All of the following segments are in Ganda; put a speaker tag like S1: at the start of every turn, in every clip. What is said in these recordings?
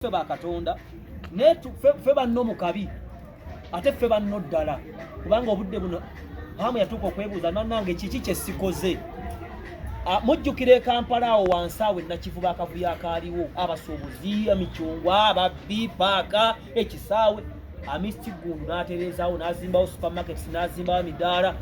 S1: ffe ba katonda naye ffe banno mu kabi ate ffe banno ddala kubanga obudde buno hamu yatuuka okwebuuza nanange kiki kye sikoze Ah, mujjukira ekampala awo wansi awo enakivuba akavuyo akaaliwo abasuubuzi emicungwa ababbi paaka ekisaawe amisti gundu n'atereezaawo n'azimbawo supermarkets n'azimbawo emidaala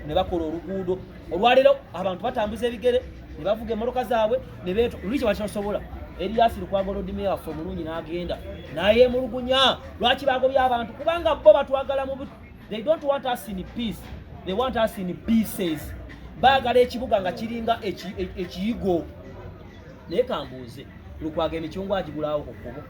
S1: ne bakola oluguudo olwaleero abantu batambuza ebigere ne bavuga emmotoka zaabwe ne beetu lwiki bakyosobola eriyasi lukwago lodime waffe omulungi n'agenda naye emulugunya lwaki bagobye abantu kubanga bo batwagala mu they don't want us in peace they want us in pieces baagala ekibuga nga kiringa e, ekiyigo naye kambuuze lukwago emicungwa agigulawo ku kkubo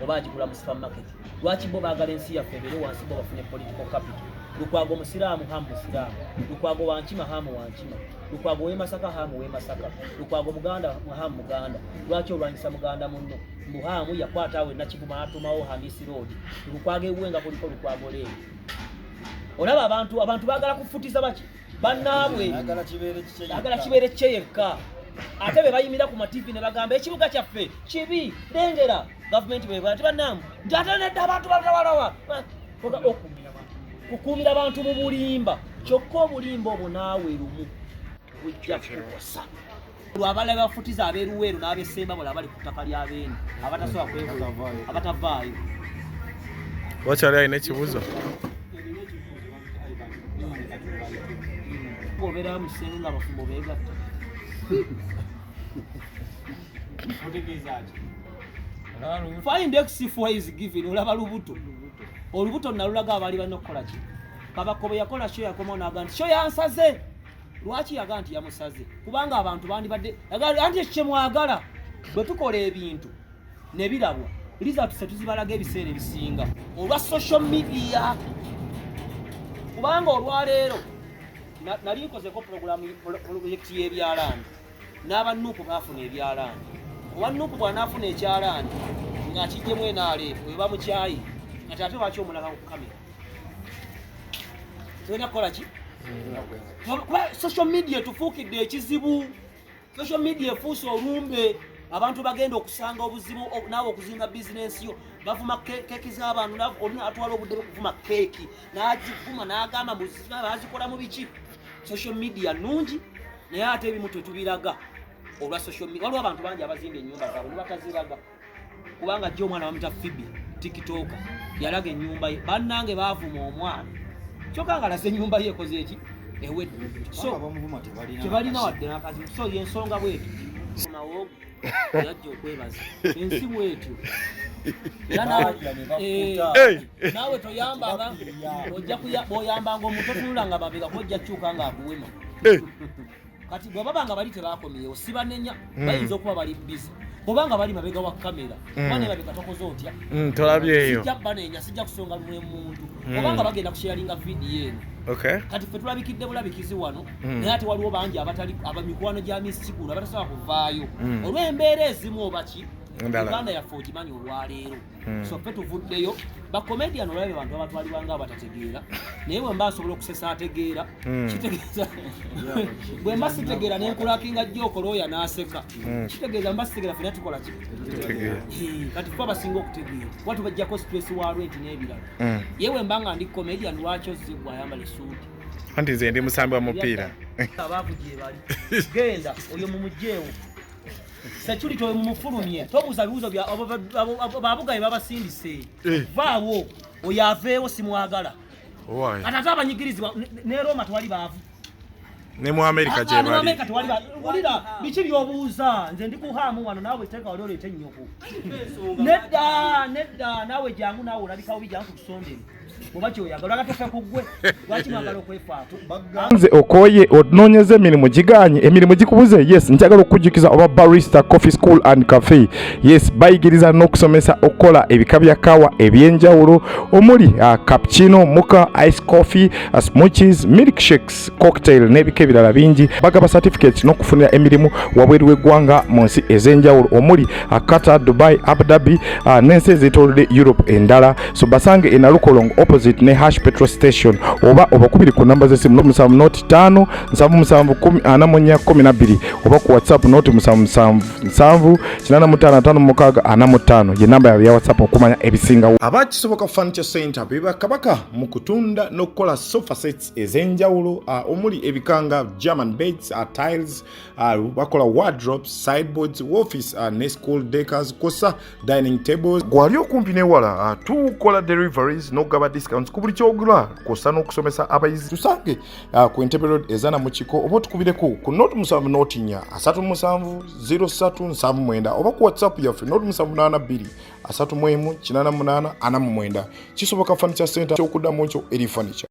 S1: oba agigula mu supermarket lwaki bo baagala ensi yaffe ebeere wansi bo bafune political capital lukwago musiraamu hamu musiraamu lukwago wankima hamu wankima lukwago wemasaka hamu wemasaka lukwago muganda hamu muganda lwaki olwanyisa muganda munno mbu hamu yakwata awe nakivuma atumawo hamisi road lukwago ewuwe nga kuliko lukwago leero olaba abantu abantu bagala kufutiza baki bannaabwe agala kibeere kye yekka ate be bayimira ku mativi ne bagamba ekibuga kyaffe kibi lengera gavumenti bwebaa ti bannaamu nti ate nedda abantu batawalawa kukuumira bantu mu bulimba kyokka obulimba obwo naawe lumu bujja kukosa lwabala bafutiza aberuweero n'abesemba bula abali ku ttaka lya beene abatasobola kwekola abatavaayo
S2: wakyali alina ekibuzo
S1: obera musenge nga abafumbo begatta find x for is given olaba lubuto olubuto nalulaga abali balina okukola ki kabaka bwe yakola kyo yakomawo naga nti kyo yansaze lwaki yaga nti yamusaze kubanga abantu bandibadde anti ekyo kyemwagala bwe tukola ebintu ne birabwa lizatuse tuzibalaga ebiseera ebisinga olwa social media kubanga olwaleero nali nkozeko pulogulamu pulojekiti y'ebyalaani n'abannuuku baafuna ebyalaani owa nuuku bw'anaafuna ekyalaani ng'akijjemu enaaleefu eba mukyayi kati ate lwaki omulala ku kamera tulina kukola ki kuba social media etufuukidde ekizibu social media efuuse olumbe abantu bagenda okusanga obuzibu naawe okuzimba bizinensi yo bavuma keeki z'abantu olina atwala obudde bwokuvuma keeki n'agivuma n'agamba bazikola mu biki social media nungi naye ate ebimu tetubiraga olwa social media waliwo abantu bangi abazimba ennyumba zaabwe ne bataziraga kubanga jjo omwana bamuta fibi tikitoka yalaga enyumba ye bannange bavuma omwana kyoka nga lasa enyumba ye ekoze eki ewedde tebalina wadde nakazi so yensonga bweti yajja okwebaza ensi bwetyo naawe toyambanga ojja bwoyambanga omuntu otunula nga babega kojja kyuka nga akuwema kati bwe baba nga bali tebakomyewo sibanenya hmm. bayinza okuba bali bizi bwoba nga bali mabega wa kamera hmm. bana erabika tokoze otya hmm, tolabyeyo sijja
S2: banenya sijja
S1: kusonga lumwe muntu oba nga bagenda kusharinga vidiyo eno kati ffe tulabikidde bulabikizi wano naye ate waliwo bangi abatali abamikwano gya misi kigulu abatasobola kuvaayo olw'embeera ezimu obaki uganda yaffe ogimanyi olwaleero hmm. so ffe tuvuddeyo bakomedian olabe bantu abatwalibwa nga abatategeera naye bwemba asobola okusesa ategeera hmm. kitegeeza bwemba sitegeera nenkulakinga jjo okola oyo anaaseka hmm. kitegeeza mba sitegeera fena tukola ki kati fe abasinga okutegeera kuba tubajjako stress wa rent n'ebirala ye wemba nga ndi comedian lwaki ozigwa ayambala esuuti anti nze ndi
S2: musambi wa mupiira abakugyebali
S1: genda oyo mumugyewo security oyo mumufulumye tobuuza bibuuzo bya babugaye babasindise eh. vaawo oyo aveewo simwagala kati ate abanyigirizibwa ne roma twali baavu ne mu
S2: amerika gyebali wulira
S1: biki byobuuza nze ndi kuhaamu wano naawe teeka wali oleeta ennyoko nedda nedda naawe jangu naawe olabikawo bijangu ku kusondera nze okoye
S3: onoonyeza emirimu giganye emirimu gikubuze yes njagala okukujjukiza oba barista coffee school and cafe yes bayigiriza n'okusomesa okukola ebika bya kawa eby'enjawulo omuli uh, cappuccino muka ice coffee uh, smoothies milk shakes drinks cocktail n'ebika ebirala bingi bagaba certificates n'okufunira emirimu wabweru w'eggwanga mu nsi ez'enjawulo omuli uh, qatar dubai abu dhabi uh, n'ensi ezeetoolodde europe endala so basange enalukolong opposite ne hash petrol station oba obakubiri ku namba z'essimu noti musanvu noti ttaano nsanvu musanvu ana mu nnya kkumi na bbiri oba ku whatsapp noti musanvu musanvu nsanvu kinaana mu ttaano ataano mu mukaaga ana mu ttaano ye namba yaabwe ya whatsapp okumanya ebisingawo abakisoboka furniture center bebakabaka mu kutunda n'okukola sofa sets ez'enjawulo uh, omuli ebika nga german beds uh, tiles uh, bakola wardrobes sideboards office uh, ne school decors kosa dining tables gwali okumpi newala uh, tukola deliveries n'okugaba discounts ku buli kyogula kosa n'okusomesa abayizi tusange uh, ku entebe road ezana mu kiko oba otukubireko ku not musanvu n'otinya asatu musanvu 0379 oba ku whatsapp yaffe not musanvu naana bbiri asatu mu emu kinana munaana ana mu mwenda kisoboka furniture center kyokuddamu ekyo eri furniture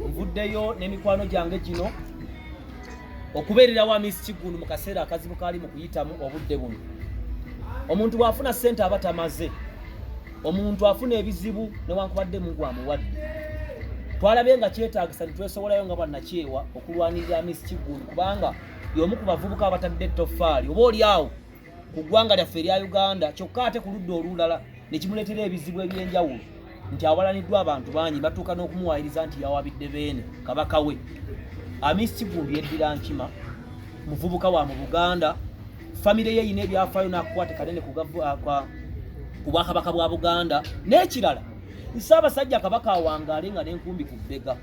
S1: nvuddeyo n'emikwano gyange gino okubeerera wa miss kiggundu mu kaseera akazibu kaali mu kuyitamu obudde buno omuntu bw'afuna ssente aba tamaze omuntu afuna ebizibu newankubadde mungu amuwadde twalabye nga kyetagisa nitwesowolayo nga bannakyewa okulwanirira miss kiggundu kubanga y'omu ku bavubuka abatadde ettofaali oba oli awo ku ggwanga lyaffe erya Uganda kyokka ate ku ludda olulala ne kimuleetera ebizibu eby'enjawulo nti awalaniddwa abantu bangi batuuka n'okumuwaayiriza nti yawabidde Beene kabaka we Amis Kiggundu yeddira Nkima muvubuka wa mu Buganda famire ye erina ebyafaayo n'akukwate kanene ku Bwakabaka bwa Buganda n'ekirala Ssaabasajja Kabaka awangaale nga n'enkumbi ku bbega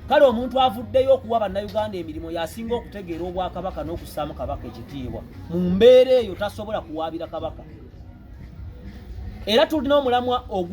S1: kale omuntu avuddeyo okuwa bannayuganda emirimu yasinga okutegeera obwakabaka n'okussaamu kabaka ekitiibwa mu mbeera eyo tasobola kuwaabira kabaka era tulina omulamwa ogu